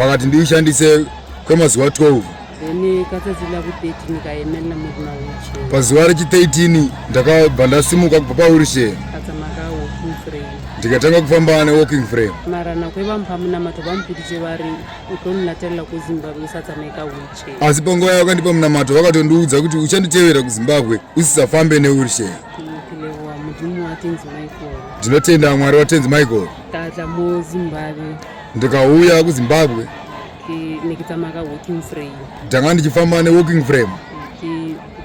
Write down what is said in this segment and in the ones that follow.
Wakati ndiishandise kwemazuva 12. Then katadzila ku 13 kaemela mudi na wheelchair. Pazuva rechi 13 ndakabva ndasimuka kubva pa wheelchair. Katsamaka walking frame. Ndikatanga kufamba ne walking frame. Mara na kweva mpamu na mato vampidije vari utoni natella ku Zimbabwe usatsameka wheelchair. Asi pangoya yakandipa munamato vakatondiudza kuti uchanditevera ku Zimbabwe usisafambe ne wheelchair. Mm tinotenda mwari watenzi michael tatla muzimbabwe ndikauya kuzimbabwe nekita maka walking frame ndanga ndichifamba ne walking frame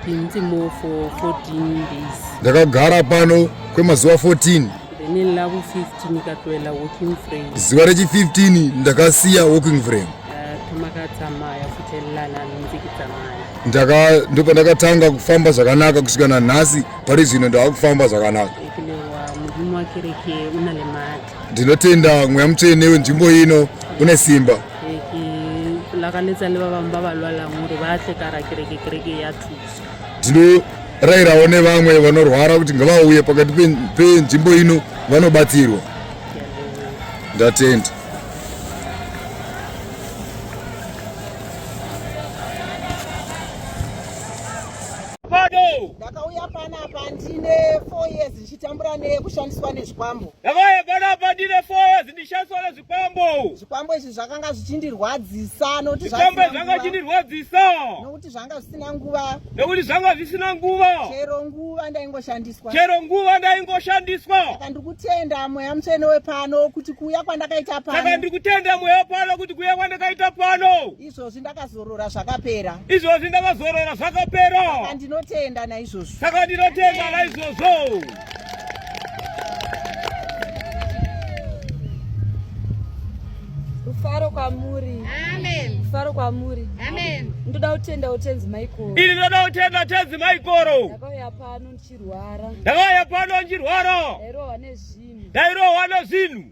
ndimo for 14 days ndakagara pano kwemazuva 14 zuva rechi 15 ndakasiya walking frame ndopandakatanga kufamba zvakanaka kusvika nanhasi pari zvino ndava kufamba zvakanaka Ndinotenda mweya mutsvene wenzvimbo ino une simba. Lakanetsa ne vavambi vavalwala ngori vahle kara kereke kereke yathusa. Ndinorairawo ne vamwe vanorwara kuti ngavauye pakati penzvimbo ino vanobatsirwa. Ndatenda. Tambura neyekushandiswa nezvikwambo. Ndakayagara apa ndine four years ndishandiswa nezvikwambo. Zvikwambo izvi zvakanga zvichindirwadzisa nokuti zvikwambo izvi zvanga zvichindirwadzisa nokuti zvanga zvisina nguva. Nokuti zvanga zvisina nguva. Chero nguva ndaingoshandiswa. Chero nguva ndaingoshandiswa. Saka ndikutenda mweya mutsvene wepano kuti kuuya kwandakaita pano. Saka ndikutenda mweya pano kuti kuuya kwandakaita pano. izvozvi ndakazorora zvakapera izvozvi ndakazorora zvakapera saka ndinotenda naizvozvo saka ndinotenda naizvozvo rufaro kwamuri amen rufaro kwamuri amen ndoda kutenda utenzi maikoro ini ndoda kutenda utenzi maikoro ndakauya pano ndichirwara ndakauya pano ndichirwara ndairohwa nezvinhu ndairohwa nezvinhu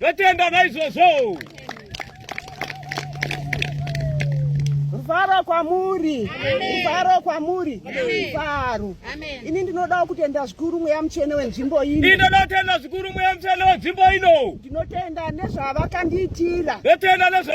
Totenda naizvozvo. Rufaro kwamuri, rufaro kwamuri, rufaro. Ini ndinodawo kutenda zvikuru mweya mutsvene wenzvimbo ino. Ndinoda kutenda zvikuru mweya mutsvene wenzvimbo ino. Ndinotenda nezvavakandiitira. Ndotenda nezva